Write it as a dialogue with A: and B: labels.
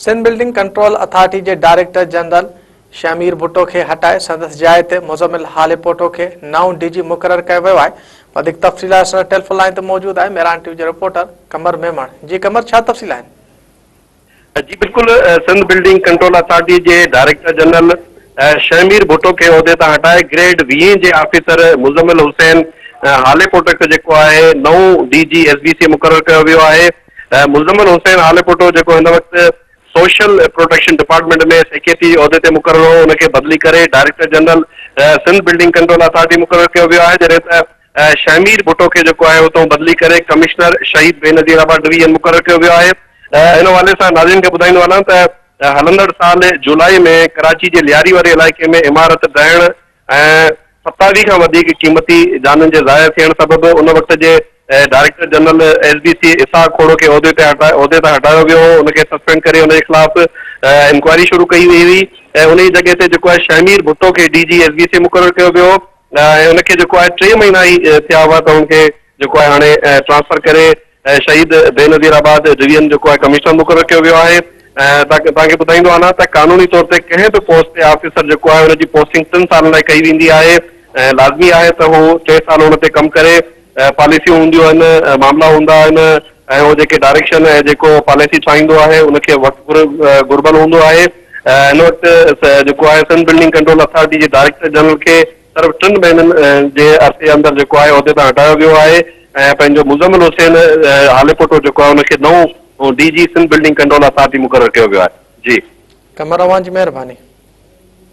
A: Sindh building control authority جي director general Shahmir Bhutto کي هٽائي سندس جاء تي مزمل هاليپوٽو کي نئون ڊي جي مقرر ڪيو ويو آهي وڌيڪ تفصيل اسان ٽيليفون لائن تي موجود آهي ميران ٽي وي جو رپورٽر قمر ميمڻ جي قمر ڇا تفصيل آهن
B: جي بلڪل سنڌ بلڊنگ ڪنٽرول اٿارٽي جي ڊائريڪٽر جنرل شهمير ڀٽو کي عهدي تان هٽائي گريڊ ويهين جي آفيسر مزمل حسين هاليپوٽو کي جيڪو آهي نئون D G S B C مقرر ڪيو ويو آهي مزمل حسين آليپوٽو جيڪو هن وقت سوشل پروٽيڪشن ڊپارٽمينٽ ۾ سيڪريٽري عهدي تي مقرر هو ان کي بدلي ڪري director general Sindh building control authority مقرر ڪيو ويو آهي جڏهن ته شهمير ڀٽو کي جيڪو آهي اتان بدلي ڪري ڪمشنر شهيد بينظير آباد ڊويزن مقرر ڪيو ويو آهي ان حوالي سان ناظرين کي ٻڌائيندو هلان ته هلندڙ سال جولائي ۾ ڪراچي جي لياري واري علائقي ۾ عمارت ڊهڻ ۽ ستاوي کان وڌيڪ قيمتي جانن جي ضايع ٿيڻ سبب ان وقت جي director general S B C Ishaq Khoro کي عهدي تي عهدي تان هٽايو ويو هو ان کي سسپينڊ ڪري ان جي خلاف انڪوائري شروع ڪئي وئي هئي ۽ انهي جڳهه تي جيڪو آهي شهمير ڀٽو کي D G S B C مقرر ڪيو ويو هو ۽ ان کي جيڪو آهي ٽي مهينا ئي ٿيا هئا ته ان کي جيڪو آهي هاڻي ٽرانسفر ڪري اهي شهيد بي نظير آباد ڊويزن جو ڪوئي ڪمشنر مقرر ڪيو ويو آهي ۽ توهان کي ٻڌائيندو آهنا ته قانوني طور تي ڪنهن به پوسٽ تي آفيسر جيڪو آهي ان جي پوسٽنگ ٽن سالن لاء ڪئي ويندي آهي ۽ لازمي آهي ته هو ٽي سال ان تي ڪم ڪري پاليسيون هونديون آهن معاملا هوندا آهن ۽ هو جيڪي ڊائريڪشن ۽ جيڪو پاليسي ٺاهيندو آهي ان کي وقت گهربل هوندو آهي هن وقت جيڪو آهي سنڌ بلڊنگ ڪنٽرول اٿارٽي جي ڊائريڪٽر جنرل کي صرف ٽن مهينن جي عرصي اندر جيڪو آهي عهدي تان هٽايو ويو آهي ۽ پنهنجو مزمل حسين هاليپوٽو جيڪو آهي ان کي نئون D G Sindh
A: building
B: control authority
A: مقرر
B: ڪيو ويو آهي جي. قمر اوهان
A: جي
B: مهرباني.